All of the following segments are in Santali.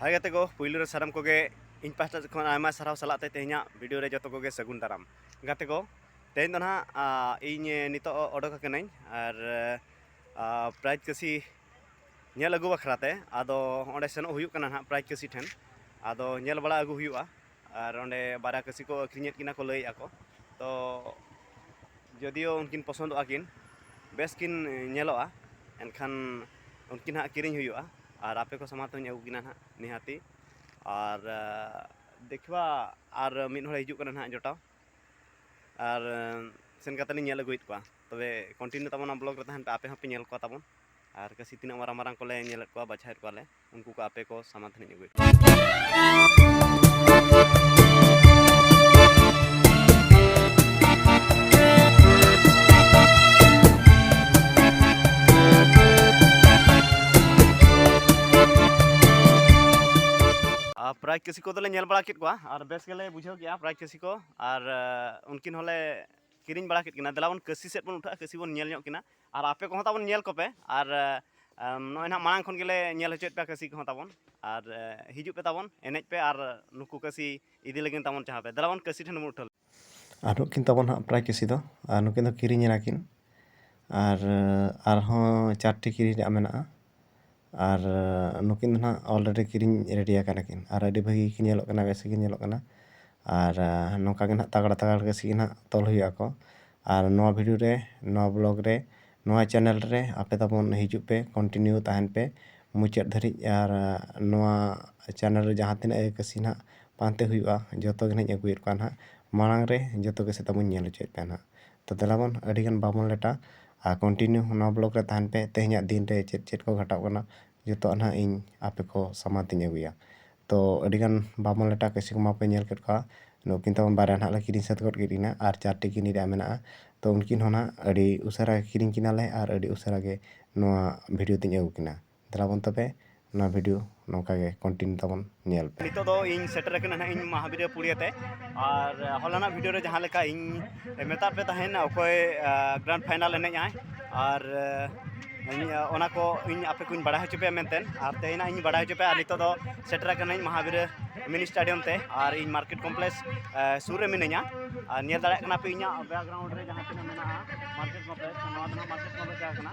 ᱦᱟᱭ ᱜᱟᱛᱮ ᱠᱚ ᱯᱩᱭᱞᱩ ᱨᱮ ᱥᱟᱱᱟᱢ ᱠᱚᱜᱮ ᱤᱧ ᱯᱟᱥᱴᱟ ᱥᱮᱫ ᱠᱷᱚᱱ ᱟᱭᱢᱟ ᱥᱟᱨᱦᱟᱣ ᱥᱟᱞᱟᱜ ᱛᱮ ᱛᱮᱦᱮᱧᱟᱜ ᱵᱷᱤᱰᱤᱭᱳ ᱨᱮ ᱡᱚᱛᱚ ᱠᱚᱜᱮ ᱥᱟᱹᱜᱩᱱ ᱫᱟᱨᱟᱢ ᱜᱟᱛᱮ ᱠᱚ ᱛᱮᱦᱮᱧ ᱫᱚ ᱱᱟᱦᱟᱜ ᱤᱧ ᱱᱤᱛᱚᱜ ᱚᱰᱚᱠ ᱟᱠᱟᱱᱟᱹᱧ ᱟᱨ ᱯᱨᱟᱭᱤᱡᱽ ᱠᱟᱹᱥᱤ ᱧᱮᱞ ᱟᱹᱜᱩ ᱵᱟᱠᱷᱨᱟ ᱛᱮ ᱟᱫᱚ ᱚᱸᱰᱮ ᱥᱮᱱᱚᱜ ᱦᱩᱭᱩᱜ ᱠᱟᱱᱟ ᱱᱟᱦᱟᱜ ᱯᱨᱟᱭᱤᱡᱽ ᱠᱟᱹᱥᱤ ᱴᱷᱮᱱ ᱟᱫᱚ ᱧᱮᱞ ᱵᱟᱲᱟ ᱟᱹᱜᱩ ᱦᱩᱭᱩᱜᱼᱟ ᱟᱨ ᱚᱸᱰᱮ ᱵᱟᱨᱭᱟ ᱠᱟᱹᱥᱤ ᱠᱚ ᱟᱹᱠᱷᱨᱤᱧᱮᱫ ᱠᱤᱱᱟ ᱠᱚ ᱞᱟᱹᱭᱮᱫᱼᱟ ᱠᱚ ᱛᱚ ᱡᱚᱫᱤᱭᱳ ᱩᱱᱠᱤᱱ ᱯᱚᱥᱚᱱᱫᱚᱜᱼᱟ ᱠᱤᱱ ᱵᱮᱥ ᱠᱤᱱ ᱧᱮᱞᱚᱜᱼᱟ ᱮᱱᱠᱷᱟᱱ ᱩᱱᱠᱤᱱ ᱦᱟᱸᱜ ᱠᱤᱨᱤᱧ ᱦᱩᱭᱩᱜᱼᱟ ᱟᱨ ᱟᱯᱮ ᱠᱚ ᱥᱟᱢᱟᱝ ᱛᱮᱦᱚᱧ ᱟᱹᱜᱩ ᱠᱤᱱᱟ ᱦᱟᱸᱜ ᱱᱤᱦᱟᱹᱛᱤ ᱟᱨ ᱫᱮᱠᱷᱣᱟ ᱟᱨ ᱢᱤᱫ ᱦᱚᱲᱮ ᱦᱤᱡᱩᱜ ᱠᱟᱱᱟ ᱦᱟᱸᱜ ᱡᱚᱴᱟᱣ ᱟᱨ ᱥᱮᱱ ᱠᱟᱛᱮᱫ ᱞᱤᱧ ᱧᱮᱞ ᱟᱹᱜᱩᱭᱮᱫ ᱠᱚᱣᱟ ᱛᱚᱵᱮ ᱠᱚᱱᱴᱤᱱᱤᱭᱩ ᱛᱟᱵᱚᱱ ᱱᱚᱣᱟ ᱵᱞᱚᱜᱽ ᱨᱮ ᱛᱟᱦᱮᱱ ᱯᱮ ᱟᱯᱮ ᱦᱚᱸᱯᱮ ᱧᱮᱞ ᱠᱚᱣᱟ ᱛᱟᱵᱚᱱ ᱟᱨ ᱠᱟᱹᱥᱤ ᱛᱤᱱᱟᱹᱜ ᱢᱟᱨᱟᱝ ᱢᱟᱨᱟᱝ ᱠᱚᱞᱮ ᱧᱮᱞᱮᱫ ᱠᱚᱣᱟ ᱵᱟᱪᱷᱟᱣᱮᱫ ᱠᱚᱣᱟᱞᱮ ᱩᱱᱠᱩ ᱠᱚ ᱟᱯᱮ ᱠᱚ ᱥᱟᱢᱟᱫᱷᱟᱱ ᱟᱹᱜᱩᱭ ᱯᱨᱟᱭ ᱪᱟᱹᱥᱤ ᱠᱚᱫᱚᱞᱮ ᱧᱮᱞ ᱵᱟᱲᱟ ᱠᱮᱫ ᱠᱚᱣᱟ ᱟᱨ ᱵᱮᱥ ᱜᱮᱞᱮ ᱵᱩᱡᱷᱟᱹᱣ ᱠᱮᱜᱼᱟ ᱯᱨᱟᱭ ᱪᱟᱹᱥᱤ ᱠᱚ ᱟᱨ ᱩᱱᱠᱤᱱ ᱦᱚᱸᱞᱮ ᱠᱤᱨᱤᱧ ᱵᱟᱲᱟ ᱠᱮᱫ ᱠᱤᱱᱟ ᱫᱮᱞᱟ ᱵᱚᱱ ᱠᱟᱹᱥᱤ ᱥᱮᱫ ᱵᱚᱱ ᱩᱴᱷᱟᱹᱜᱼᱟ ᱠᱟᱹᱥᱤ ᱵᱚᱱ ᱧᱮᱞ ᱧᱚᱜ ᱠᱤᱱᱟ ᱟᱨ ᱟᱯᱮ ᱠᱚᱦᱚᱸ ᱛᱟᱵᱚᱱ ᱧᱮᱞ ᱠᱚᱯᱮ ᱟᱨ ᱱᱚᱜᱼᱚᱭ ᱱᱟᱦᱟᱜ ᱢᱟᱲᱟᱝ ᱠᱷᱚᱱ ᱜᱮᱞᱮ ᱧᱮᱞ ᱦᱚᱪᱚᱭᱮᱫ ᱯᱮᱭᱟ ᱠᱟᱹᱥᱤ ᱠᱚᱦᱚᱸ ᱛᱟᱵᱚᱱ ᱟᱨ ᱦᱤᱡᱩᱜ ᱯᱮ ᱛᱟᱵᱚᱱ ᱮᱱᱮᱡ ᱯᱮ ᱟᱨ ᱱᱩᱠᱩ ᱠᱟᱹᱥᱤ ᱤᱫᱤ ᱞᱟᱹᱜᱤᱫ ᱛᱟᱵᱚᱱ ᱡᱟᱦᱟᱸ ᱯᱮ ᱫᱮᱞᱟ ᱵᱚᱱ ᱠᱟᱹᱥᱤ ᱴᱷᱮᱱ ᱵᱚᱱ ᱩᱴᱷᱟᱹᱣ ᱟᱨ ᱱᱩᱠᱤᱱ ᱛᱟᱵᱚᱱ ᱦᱟᱸᱜ ᱯᱨᱟᱭ ᱠᱟᱹᱥᱤ ᱫᱚ ᱟᱨ ᱱᱩᱠᱤᱱ ᱫᱚ ᱠᱤᱨᱤᱧ ᱮᱱᱟᱠᱤᱱ ᱟᱨ ᱟᱨᱦᱚᱸ ᱪᱟᱨᱴᱤ ᱠᱤᱨᱤᱧ ᱨᱮᱭᱟᱜ ᱢᱮᱱᱟᱜᱼᱟ ᱟᱨ ᱱᱩᱠᱤᱱ ᱫᱚ ᱦᱟᱸᱜ ᱚᱞᱨᱮᱰᱤ ᱠᱤᱨᱤᱧ ᱨᱮᱰᱤ ᱟᱠᱟᱱᱟ ᱠᱤᱱ ᱟᱨ ᱟᱹᱰᱤ ᱵᱷᱟᱹᱜᱤ ᱜᱮᱠᱤᱱ ᱧᱮᱞᱚᱜ ᱠᱟᱱᱟ ᱵᱮᱥ ᱜᱮᱠᱤᱱ ᱧᱮᱞᱚᱜ ᱠᱟᱱᱟ ᱟᱨ ᱱᱚᱝᱠᱟ ᱜᱮ ᱦᱟᱸᱜ ᱛᱟᱜᱽᱲᱟ ᱛᱟᱜᱽᱲᱟ ᱜᱮ ᱥᱤᱱ ᱦᱟᱸᱜ ᱛᱚᱞ ᱦᱩᱭᱩᱜ ᱟᱠᱚ ᱟᱨ ᱱᱚᱣᱟ ᱵᱷᱤᱰᱤᱭᱳ ᱨᱮ ᱱᱚᱣᱟ ᱵᱞᱚᱜᱽ ᱨᱮ ᱱᱚᱣᱟ ᱪᱮᱱᱮᱞ ᱨᱮ ᱟᱯᱮ ᱛᱟᱵᱚᱱ ᱦᱤᱡᱩᱜ ᱯᱮ ᱠᱚᱱᱴᱤᱱᱤᱭᱩ ᱛᱟᱦᱮᱱ ᱯᱮ ᱢᱩᱪᱟᱹᱫ ᱫᱷᱟᱹᱨᱤᱡ ᱟᱨ ᱱᱚᱣᱟ ᱪᱮᱱᱮᱞ ᱨᱮ ᱡᱟᱦᱟᱸ ᱛᱤᱱᱟᱹᱜ ᱜᱮ ᱠᱟᱹᱥᱤ ᱦᱟᱸᱜ ᱯᱟᱱᱛᱮ ᱦᱩᱭᱩᱜᱼᱟ ᱡᱚᱛᱚ ᱜᱮ ᱦᱟᱸᱜ ᱤᱧ ᱟᱹᱜᱩᱭᱮᱫ ᱠᱚᱣᱟ ᱦᱟᱸᱜ ᱢᱟᱲᱟᱝ ᱨᱮ ᱡᱚᱛᱚ ᱜᱮ ᱥᱮᱛᱟ ᱵᱚᱱ ᱧᱮᱞ ᱦᱚᱪᱚᱭᱮᱫ ᱠᱚᱣᱟ ᱦᱟᱸᱜ ᱛᱚ ᱫᱮᱞᱟ ᱵᱚᱱ ᱟᱹᱰᱤ ᱜᱟᱱ ᱵᱟᱵᱚᱱ ᱞᱮᱴᱟ ᱟᱨ ᱠᱚᱱᱴᱤᱱᱤᱭᱩ ᱱᱚᱣᱟ ᱵᱞᱚᱠ ᱨᱮ ᱛᱟᱦᱮᱱ ᱯᱮ ᱛᱮᱦᱮᱧᱟᱜ ᱫᱤᱱ ᱨᱮ ᱪᱮᱫ ᱪᱮᱫ ᱠᱚ ᱜᱷᱟᱴᱟᱜ ᱠᱟᱱᱟ ᱡᱚᱛᱚᱣᱟᱜ ᱱᱟᱦᱟᱜ ᱤᱧ ᱟᱯᱮ ᱠᱚ ᱥᱟᱢᱟᱝ ᱛᱮᱧ ᱟᱹᱜᱩᱭᱟ ᱛᱚ ᱟᱹᱰᱤ ᱜᱟᱱ ᱵᱟᱵᱚᱱ ᱞᱮᱴᱟ ᱠᱤᱪᱷᱩ ᱠᱚᱢᱟ ᱯᱮ ᱧᱮᱞ ᱠᱮᱫ ᱠᱚᱣᱟ ᱱᱩᱠᱤᱱ ᱛᱟᱵᱚᱱ ᱵᱟᱨᱭᱟ ᱱᱟᱦᱟᱜ ᱞᱮ ᱠᱤᱨᱤᱧ ᱥᱟᱹᱛ ᱜᱚᱫ ᱠᱮᱫ ᱠᱤᱱᱟ ᱟᱨ ᱪᱟᱨᱴᱤ ᱠᱤᱨᱤᱧ ᱨᱮᱭᱟᱜ ᱢᱮᱱᱟᱜᱼᱟ ᱛᱚ ᱩᱱᱠᱤᱱ ᱦᱚᱸ ᱱᱟᱦᱟᱜ ᱟᱹᱰᱤ ᱩᱥᱟᱹᱨᱟ ᱠᱤᱨᱤᱧ ᱠᱤᱱᱟᱞᱮ ᱟᱨ ᱟᱹᱰᱤ ᱩᱥᱟᱹᱨᱟ ᱜᱮ ᱱᱚᱣᱟ ᱵᱷᱤᱰᱤᱭᱳ ᱛᱮᱧ ᱟᱹᱜᱩ ᱠᱤᱱᱟ ᱫᱮᱞᱟ ᱵᱚᱱ ᱛᱚᱵᱮ ᱱᱚᱣᱟ ᱵᱷᱤᱰᱤᱭᱳ ᱱᱚᱝᱠᱟ ᱜᱮ ᱠᱚᱱᱴᱤᱱᱤᱭᱩ ᱛᱟᱵᱚᱱ ᱧᱮᱞ ᱯᱮ ᱱᱤᱛᱚᱜ ᱫᱚ ᱤᱧ ᱥᱮᱴᱮᱨ ᱟᱠᱟᱱᱟ ᱱᱟᱦᱟᱜ ᱤᱧ ᱢᱟᱦᱟᱵᱤᱨᱭᱟ ᱯᱩᱲᱤᱭᱟᱹ ᱛᱮ ᱟᱨ ᱦᱚᱞᱟᱱᱟᱜ ᱵᱷᱤᱰᱤᱭᱳ ᱨᱮ ᱡᱟᱦᱟᱸ ᱞᱮᱠᱟ ᱤᱧ ᱢᱮᱛᱟᱫ ᱯᱮ ᱛᱟᱦᱮᱱ ᱚᱠᱚᱭ ᱜᱨᱟᱱᱰ ᱯᱷᱟᱭᱱᱟᱞ ᱮᱱᱮᱡ ᱟᱭ ᱟᱨ ᱚᱱᱟ ᱠᱚ ᱤᱧ ᱟᱯᱮ ᱠᱚᱧ ᱵᱟᱲᱟᱭ ᱦᱚᱪᱚ ᱯᱮᱭᱟ ᱢᱮᱱᱛᱮ ᱟᱨ ᱛᱮᱦᱮᱧ ᱤᱧ ᱵᱟᱲᱟᱭ ᱦᱚᱪᱚ ᱯᱮᱭᱟ ᱟᱨ ᱱᱤᱛᱚᱜ ᱫᱚ ᱥᱮᱴᱮᱨ ᱟᱠᱟᱱᱟᱹᱧ ᱢᱟᱦᱟᱵᱤᱨᱭᱟ ᱢᱤᱱᱤ ᱥᱴᱮᱰᱤᱭᱟᱢ ᱛᱮ ᱟᱨ ᱤᱧ ᱢᱟᱨᱠᱮᱴ ᱠᱚᱢᱯᱞᱮᱠᱥ ᱥᱩᱨ ᱨᱮ ᱢᱤᱱᱟᱹᱧᱟ ᱟᱨ ᱧᱮᱞ ᱫᱟᱲᱮᱭᱟᱜ ᱠᱟᱱᱟ ᱯᱮ ᱤᱧᱟᱹᱜ ᱵᱮᱠᱜᱨᱟᱣᱩᱱᱰ ᱨᱮ ᱡᱟᱦᱟᱸ ᱛᱤᱱᱟᱹᱜ ᱢᱮᱱᱟᱜᱼᱟ ᱢᱟᱨᱠᱮᱴ ᱠᱚᱢᱯᱞᱮᱠᱥ ᱱᱚᱣᱟ ᱫᱚ ᱱᱟᱦᱟᱜ ᱢᱟᱨᱠᱮᱴ ᱠᱚᱢᱯᱞᱮᱠᱥ ᱡᱟᱦᱟᱸ ᱠᱟᱱᱟ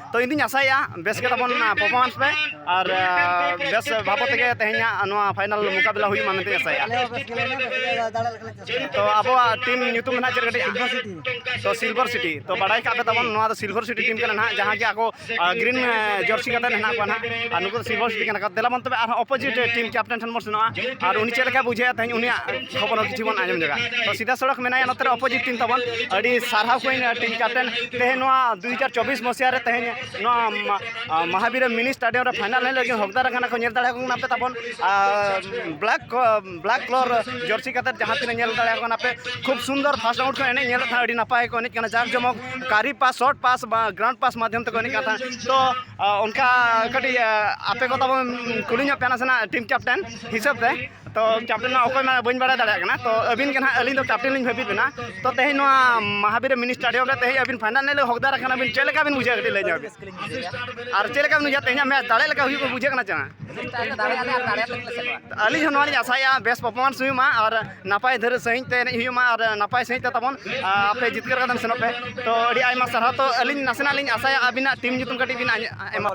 ᱛᱚ ᱤᱧ ᱫᱩᱧ ᱟᱥᱟᱭᱮᱜᱼᱟ ᱵᱮᱥ ᱜᱮ ᱛᱟᱵᱚᱱ ᱯᱟᱨᱯᱷᱚᱨᱢᱟᱱᱥ ᱯᱮ ᱟᱨ ᱵᱮᱥ ᱵᱟᱵᱚᱫ ᱛᱮᱜᱮ ᱛᱮᱦᱮᱧᱟᱜ ᱱᱚᱣᱟ ᱯᱷᱟᱭᱱᱟᱞ ᱢᱩᱠᱟᱵᱤᱞᱟ ᱦᱩᱭᱩᱜ ᱢᱟ ᱢᱮᱱᱛᱮᱧ ᱟᱥᱟᱭᱮᱜᱼᱟ ᱛᱚ ᱟᱵᱚᱣᱟᱜ ᱴᱤᱢ ᱧᱩᱛᱩᱢ ᱱᱟᱦᱟᱜ ᱪᱮᱫ ᱠᱟᱹᱴᱤᱡ ᱛᱚ ᱥᱤᱞᱵᱷᱟᱨ ᱥᱤᱴᱤ ᱛᱚ ᱵᱟᱰᱟᱭ ᱠᱟᱜ ᱯᱮ ᱛᱟᱵᱚᱱ ᱱᱚᱣᱟ ᱫᱚ ᱥᱤᱞᱵᱷᱟᱨ ᱥᱤᱴᱤ ᱴᱤᱢ ᱠᱟᱱᱟ ᱱᱟᱦᱟᱜ ᱡᱟᱦᱟᱸ ᱜᱮ ᱟᱠᱚ ᱜᱨᱤᱱ ᱡᱟᱨᱥᱤ ᱠᱟᱛᱮ ᱦᱮᱱᱟᱜ ᱠᱚᱣᱟ ᱱᱟᱦᱟᱜ ᱟᱨ ᱱᱩᱠᱩ ᱫᱚ ᱥᱤᱞᱵᱷᱟᱨ ᱥᱤᱴᱤ ᱠᱟᱱᱟ ᱠᱚ ᱫᱮᱞᱟ ᱵᱚᱱ ᱛᱚᱵᱮ ᱟᱨᱦᱚᱸ ᱚᱯᱳᱡᱤᱴ ᱴᱤᱢ ᱠᱮᱯᱴᱮᱱ ᱴᱷᱮᱱ ᱵᱚᱱ ᱥᱮᱱᱚᱜᱼᱟ ᱟᱨ ᱩᱱᱤ ᱪᱮᱫ ᱞᱮᱠᱟᱭ ᱵᱩᱡᱷᱟᱹᱣᱮᱜᱼᱟ ᱛᱮᱦᱮᱧ ᱩᱱᱤᱭᱟᱜ ᱠᱷᱚᱵᱚᱨ ᱦᱚᱸ ᱠᱤᱪᱷᱩ ᱵᱚᱱ ᱟᱸᱡᱚᱢ ᱡᱟᱭᱜᱟ ᱛᱚ ᱥᱤᱫᱷᱟ ᱥᱚᱲᱚᱠ ᱢᱮᱱᱟᱭᱟ ᱱᱚᱛᱮ ᱨᱮ ᱚᱯᱳᱡᱤᱴ ᱴᱤᱢ ᱛᱟᱵᱚᱱ ᱟᱹᱰᱤ ᱥᱟᱨᱦᱟᱣ ᱠᱚᱧ ᱴᱤᱢ ᱠᱮᱯᱴᱮᱱ ᱛᱮᱦᱮᱧ ᱱᱚᱣᱟ ᱫᱩ ᱦᱟᱡᱟᱨ ᱪᱚᱵᱵᱤᱥ ᱢᱚᱥᱤᱭᱟ ᱨᱮ ᱛᱮᱦᱮᱧ ᱱᱚᱣᱟ ᱢᱟᱦᱟᱵᱤᱨ ᱢᱤᱱᱤ ᱥᱴᱟᱰᱤᱭᱟᱢ ᱨᱮ ᱯᱷᱟᱭᱱᱟᱞ ᱦᱮᱡ ᱞᱟᱹᱜᱤᱫ ᱦᱚᱠᱫᱟᱨ ᱟᱠᱟᱱᱟ ᱠᱚ ᱧᱮᱞ ᱫᱟᱲᱮᱭᱟᱠᱚ ᱠᱟᱱᱟ ᱯᱮ ᱛᱟᱵᱚᱱ ᱵᱞᱟᱠ ᱵᱞᱟᱠ ᱠᱞᱚᱨ ᱡᱟᱹᱨᱥᱤ ᱠᱟᱛᱮ ᱡᱟᱦᱟᱸ ᱛᱤᱱᱟᱹᱜ ᱧᱮᱞ ᱫᱟᱲᱮᱭᱟᱠᱚ ᱠᱟᱱᱟ ᱯᱮ ᱠᱷᱩᱵ ᱥᱩᱱᱫᱚᱨ ᱯᱷᱟᱥᱴ ᱟᱣᱩᱴ ᱠᱚ ᱮᱱᱮᱡ ᱧᱮᱞ ᱠᱷᱟᱱ ᱟᱹᱰᱤ ᱱᱟᱯᱟᱭ ᱠᱚ ᱮᱱᱮᱡ ᱠᱟᱱᱟ ᱡᱟᱠ ᱡᱚᱢᱚᱠ ᱠᱟᱨᱤ ᱯᱟᱥ ᱥᱚᱨᱴ ᱯᱟᱥ ᱵᱟ ᱜᱨᱟᱣᱩᱱᱰ ᱯᱟᱥ ᱢᱟᱫᱷᱭᱚᱢ ᱛᱮᱠᱚ ᱮᱱᱮᱡ ᱠᱟᱱ ᱛᱟᱦᱮᱸᱫ ᱛᱚ ᱚᱱᱠᱟ ᱠᱟᱹᱴᱤᱡ ᱟᱯᱮ ᱠᱚ ᱛᱟᱵᱚᱱ ᱠᱩᱞᱤ ᱧᱚᱜ ᱯᱮ ᱱᱟᱥᱮᱱᱟᱜ ᱴᱤᱢ ᱠᱮᱯᱴᱮᱱ ᱦᱤᱥᱟᱹᱵ ᱛᱮ ᱛᱚ ᱠᱮᱯᱴᱮᱱ ᱢᱟ ᱚᱠᱚᱭ ᱢᱟ ᱵᱟᱹᱧ ᱵᱟᱲᱟᱭ ᱫᱟᱲᱮᱭᱟᱜ ᱠᱟᱱᱟ ᱛᱚ ᱟᱹᱵᱤᱱ ᱜᱮ ᱱᱟᱦᱟᱜ ᱟᱹᱞᱤᱧ ᱫᱚ ᱠᱮᱯᱴᱮᱱ ᱞᱤᱧ ᱵᱷᱟᱹᱵᱤᱛ ᱵᱮᱱᱟ ᱛᱚ ᱛᱮᱦᱮᱧ ᱱᱚᱣᱟ ᱢᱟᱦᱟᱵᱤᱨ ᱢᱤᱱᱤ ᱥᱴᱮᱰᱤᱭᱟᱢ ᱨᱮ ᱛᱮᱦᱮᱧ ᱟᱹᱵᱤᱱ ᱯᱷᱟᱭᱱᱟᱞ ᱨᱮ ᱦᱚᱠᱫᱟᱨ ᱟᱠᱟᱱᱟ ᱵᱤᱱ ᱪᱮᱫ ᱞᱮᱠᱟ ᱵᱤᱱ ᱵᱩᱡᱷᱟᱹᱣ ᱠᱟᱹᱴᱤᱡ ᱞᱟᱹᱭ ᱧᱚᱜ ᱵᱤᱱ ᱟᱨ ᱪᱮᱫ ᱞᱮᱠᱟ ᱵᱤᱱ ᱵᱩᱡᱷᱟᱹᱣ ᱛᱮᱦᱮᱧᱟᱜ ᱢᱮᱪ ᱫᱟᱲᱮ ᱞᱮᱠᱟ ᱦᱩᱭᱩᱜ ᱵᱩᱡᱷᱟᱹᱜ ᱠᱟᱱᱟ ᱪᱮ ᱟᱹᱞᱤᱧ ᱦᱚᱸ ᱱᱚᱣᱟ ᱞᱤᱧ ᱟᱥᱟᱭᱮᱜᱼᱟ ᱵᱮᱥ ᱯᱟᱨᱯᱷᱚᱨᱢᱟᱱᱥ ᱦᱩᱭᱩᱜ ᱢᱟ ᱟᱨ ᱱᱟᱯᱟᱭ ᱫᱷᱟᱹᱨᱤᱡ ᱥᱟᱺᱦᱤᱡ ᱛᱮ ᱮᱱᱮᱡ ᱦᱩᱭᱩᱜ ᱢᱟ ᱟᱨ ᱱᱟᱯᱟᱭ ᱥᱟᱺᱦᱤᱡ ᱛᱮ ᱛᱟᱵᱚᱱ ᱟᱯᱮ ᱡᱤᱛᱠᱟᱹᱨ ᱠᱟᱛᱮᱢ ᱥᱮᱱᱚᱜ ᱯᱮ ᱛᱚ ᱟᱹᱰᱤ ᱟᱭᱢᱟ ᱥᱟᱨᱦᱟᱣ ᱛᱚ ᱟᱹᱞᱤᱧ ᱱᱟᱥᱮᱱᱟᱜ ᱞᱤᱧ ᱟᱥᱟᱭᱟ ᱟᱹᱵᱤᱱᱟᱜ ᱴᱤᱢ ᱧᱩᱛᱩᱢ ᱠᱟᱹᱴᱤᱡ ᱵᱤᱱ ᱮᱢᱟ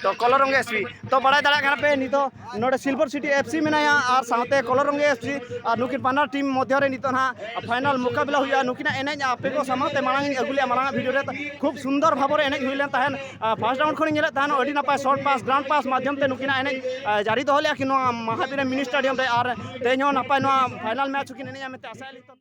ᱛᱚ ᱠᱚᱞᱚᱨᱚᱝᱜᱮ ᱮᱥᱯᱤ ᱛᱚ ᱵᱟᱲᱟᱭ ᱫᱟᱲᱮᱭᱟᱜ ᱠᱟᱱᱟ ᱯᱮ ᱱᱤᱛᱚᱜ ᱱᱚᱰᱮ ᱥᱤᱞᱵᱷᱚᱨ ᱥᱤᱴᱤ ᱮᱯᱷᱥᱤ ᱢᱮᱱᱟᱭᱟ ᱟᱨ ᱥᱟᱶᱛᱮ ᱠᱚᱞᱚᱨᱚᱝᱜᱮ ᱮᱯᱷᱥᱤ ᱟᱨ ᱱᱩᱠᱤᱱ ᱵᱟᱱᱟᱨ ᱴᱤᱢ ᱢᱚᱫᱽᱫᱷᱮ ᱨᱮ ᱱᱤᱛᱚᱜ ᱱᱟᱦᱟᱜ ᱯᱷᱟᱭᱱᱟᱞ ᱢᱳᱠᱟᱵᱤᱞᱟ ᱦᱩᱭᱩᱜᱼᱟ ᱱᱩᱠᱤᱱᱟᱜ ᱮᱱᱮᱡ ᱟᱯᱮ ᱠᱚ ᱥᱟᱢᱟᱝ ᱛᱮ ᱢᱟᱲᱟᱝ ᱤᱧ ᱟᱹᱜᱩ ᱞᱮᱫᱼᱟ ᱢᱟᱲᱟᱝ ᱵᱷᱤᱰᱤᱭᱳ ᱨᱮ ᱠᱷᱩᱵ ᱥᱩᱱᱫᱚᱨ ᱵᱷᱟᱵᱚ ᱨᱮ ᱮᱱᱮᱡ ᱦᱩᱭ ᱞᱮᱱ ᱛᱟᱦᱮᱸᱫ ᱯᱷᱟᱥᱴ ᱨᱟᱣᱩᱱᱰ ᱠᱷᱚᱱᱤᱧ ᱧᱮᱞᱮᱫ ᱛᱟᱦᱮᱸᱫ ᱟᱹᱰᱤ ᱱᱟᱯᱟᱭ ᱥᱚᱨᱴ ᱯᱟᱥ ᱜᱨᱟᱱᱰ ᱯᱟᱥ ᱢᱟᱫᱽᱫᱷᱚᱢ ᱛᱮ ᱱᱩᱠᱤᱱᱟᱜ ᱮᱱᱮᱡ ᱡᱟᱹᱨᱤ ᱫᱚᱦᱚ ᱞᱮᱫᱼᱟ ᱠᱤᱱ ᱱᱚᱣᱟ ᱢᱟᱦᱟᱵᱤᱨᱮ ᱢᱤᱱᱤ ᱥᱴᱮᱰᱤᱭᱟᱢ ᱨᱮ ᱟᱨ ᱛᱮᱦᱮᱧ ᱦᱚᱸ ᱱᱟᱯᱟᱭ ᱱᱚᱣᱟ ᱯᱷᱟᱭᱱᱟᱞ ᱢᱮᱪ ᱦᱚᱸᱠᱤᱱ ᱮᱱᱮᱡᱼᱟ ᱢᱮᱱᱛᱮ ᱟᱥᱟᱭᱟᱞᱤᱧ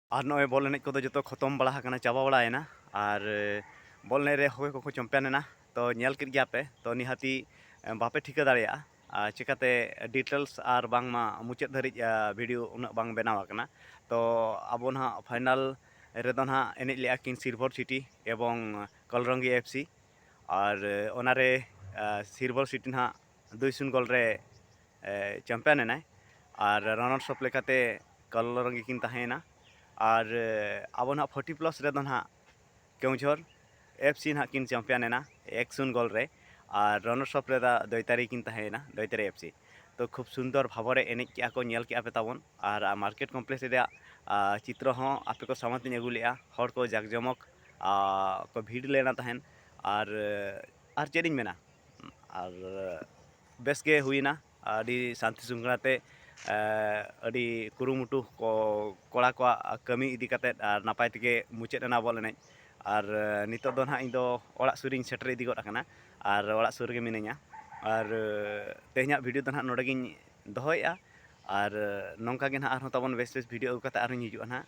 ᱟᱨ ᱱᱚᱜᱼᱚᱭ ᱵᱚᱞ ᱮᱱᱮᱡ ᱠᱚᱫᱚ ᱡᱚᱛᱚ ᱠᱷᱚᱛᱚᱢ ᱵᱟᱲᱟ ᱟᱠᱟᱱᱟ ᱪᱟᱵᱟ ᱵᱟᱲᱟᱭᱮᱱᱟ ᱟᱨ ᱵᱚᱞ ᱮᱱᱮᱡ ᱨᱮ ᱦᱚᱠᱚᱭ ᱠᱚᱠᱚ ᱪᱚᱢᱯᱤᱭᱟᱱ ᱮᱱᱟ ᱛᱚ ᱧᱮᱞ ᱠᱮᱫ ᱜᱮᱭᱟ ᱯᱮ ᱛᱚ ᱱᱤᱦᱟᱹᱛᱤ ᱵᱟᱯᱮ ᱴᱷᱤᱠᱟᱹ ᱫᱟᱲᱮᱭᱟᱜᱼᱟ ᱟᱨ ᱪᱤᱠᱟᱹᱛᱮ ᱰᱤᱴᱮᱞᱥ ᱟᱨ ᱵᱟᱝᱢᱟ ᱢᱩᱪᱟᱹᱫ ᱫᱷᱟᱹᱨᱤᱡ ᱵᱷᱤᱰᱤᱭᱳ ᱩᱱᱟᱹᱜ ᱵᱟᱝ ᱵᱮᱱᱟᱣ ᱟᱠᱟᱱᱟ ᱛᱚ ᱟᱵᱚ ᱱᱟᱦᱟᱜ ᱯᱷᱟᱭᱱᱟᱞ ᱨᱮᱫᱚ ᱱᱟᱦᱟᱜ ᱮᱱᱮᱡ ᱞᱮᱜᱼᱟ ᱠᱤᱱ ᱥᱤᱞᱵᱷᱚᱨ ᱥᱤᱴᱤ ᱮᱵᱚᱝ ᱠᱚᱞᱨᱚᱝᱜᱤ ᱮᱯᱷ ᱥᱤ ᱟᱨ ᱚᱱᱟᱨᱮ ᱥᱤᱞᱵᱷᱚᱨ ᱥᱤᱴᱤ ᱱᱟᱦᱟᱜ ᱫᱩᱭ ᱥᱩᱱ ᱜᱳᱞ ᱨᱮ ᱪᱟᱢᱯᱤᱭᱟᱱ ᱮᱱᱟᱭ ᱟᱨ ᱨᱟᱱᱟᱨᱥ ᱚᱯᱷ ᱞᱮᱠᱟᱛᱮ ᱠᱟᱞᱞᱚᱨ ᱨᱮᱜᱮ ᱠᱤᱱ ᱛᱟᱦᱮᱸᱭᱮᱱᱟ ᱟᱨ ᱟᱵᱚ ᱱᱟᱦᱟᱜ ᱯᱷᱳᱨᱴᱤ ᱯᱞᱟᱥ ᱨᱮᱫᱚ ᱱᱟᱦᱟᱜ ᱠᱮᱣᱡᱷᱚᱨ ᱮᱯᱷ ᱥᱤ ᱱᱟᱦᱟᱜ ᱠᱤᱱ ᱪᱟᱢᱯᱤᱭᱟᱱ ᱮᱱᱟ ᱮᱠ ᱥᱩᱱ ᱜᱳᱞ ᱨᱮ ᱟᱨ ᱨᱟᱱᱟᱨᱥ ᱚᱯᱷ ᱨᱮᱫᱚ ᱫᱳᱭᱛᱟᱨᱤ ᱠᱤᱱ ᱛᱟᱦᱮᱸᱭᱮᱱᱟ ᱫᱳᱭᱛᱟᱨᱤ ᱮᱯᱷ ᱥᱤ ᱛᱚ ᱠᱷᱩᱵᱽ ᱥᱩᱱᱫᱚᱨ ᱵᱷᱟᱵᱚᱨᱮ ᱮᱱᱮᱡ ᱠᱮᱜᱼᱟ ᱠᱚ ᱧᱮᱞ ᱠᱮᱜᱼᱟ ᱯᱮ ᱛᱟᱵᱚᱱ ᱟᱨ ᱢᱟᱨᱠᱮᱴ ᱠᱚᱢᱯᱞᱮᱠᱥ ᱨᱮᱭᱟᱜ ᱪᱤᱛᱨᱚ ᱦᱚᱸ ᱟᱯᱮ ᱠᱚ ᱥᱟᱢᱟᱝ ᱛᱮᱧ ᱟᱹᱜᱩ ᱞᱮᱜᱼᱟ ᱦᱚᱲ ᱠᱚ ᱡᱟᱠ ᱡᱚᱢᱚᱠ ᱠᱚ ᱵᱷᱤᱲ ᱞᱮᱱᱟ ᱛᱟᱦᱮᱸᱫ ᱟᱨ ᱟᱨ ᱪᱮᱫ ᱤᱧ ᱢᱮᱱᱟ ᱟᱨ ᱵᱮᱥ ᱜᱮ ᱦᱩᱭᱮᱱᱟ ᱟᱹᱰᱤ ᱥᱟᱱᱛᱤ ᱥᱩᱠᱷᱟᱞᱟ ᱛᱮ ᱟᱹᱰᱤ ᱠᱩᱨᱩᱢᱩᱴᱩ ᱠᱚ ᱠᱚᱲᱟ ᱠᱚᱣᱟᱜ ᱠᱟᱹᱢᱤ ᱤᱫᱤ ᱠᱟᱛᱮᱫ ᱟᱨ ᱱᱟᱯᱟᱭ ᱛᱮᱜᱮ ᱢᱩᱪᱟᱹᱫ ᱮᱱᱟ ᱵᱚᱞ ᱮᱱᱮᱡ ᱟᱨ ᱱᱤᱛᱚᱜ ᱫᱚ ᱱᱟᱦᱟᱜ ᱤᱧ ᱫᱚ ᱚᱲᱟᱜ ᱥᱩᱨ ᱨᱮᱧ ᱥᱮᱴᱮᱨ ᱤᱫᱤ ᱜᱚᱫ ᱟᱠᱟᱱᱟ ᱟᱨ ᱚᱲᱟᱜ ᱥᱩᱨ ᱨᱮᱜᱮ ᱢᱤᱱᱟᱹᱧᱟ ᱟᱨ ᱛᱮᱦᱮᱧᱟᱜ ᱵᱷᱤᱰᱤᱭᱳ ᱫᱚ ᱱᱟᱦᱟᱜ ᱱᱚᱰᱮ ᱜᱮᱧ ᱫᱚᱦᱚᱭᱮᱜᱼᱟ ᱟᱨ ᱱᱚᱝᱠᱟ ᱜᱮ ᱱᱟᱦᱟᱜ ᱟᱨᱦᱚᱸ ᱛᱟᱵᱚᱱ ᱵᱮᱥ ᱵᱮᱥ ᱵᱷᱤᱰᱤᱭᱳ ᱟᱹᱜᱩ ᱠᱟᱛᱮᱫ ᱟᱨᱦᱚᱸᱧ ᱦᱤᱡᱩᱜᱼᱟ ᱱᱟᱦᱟᱜ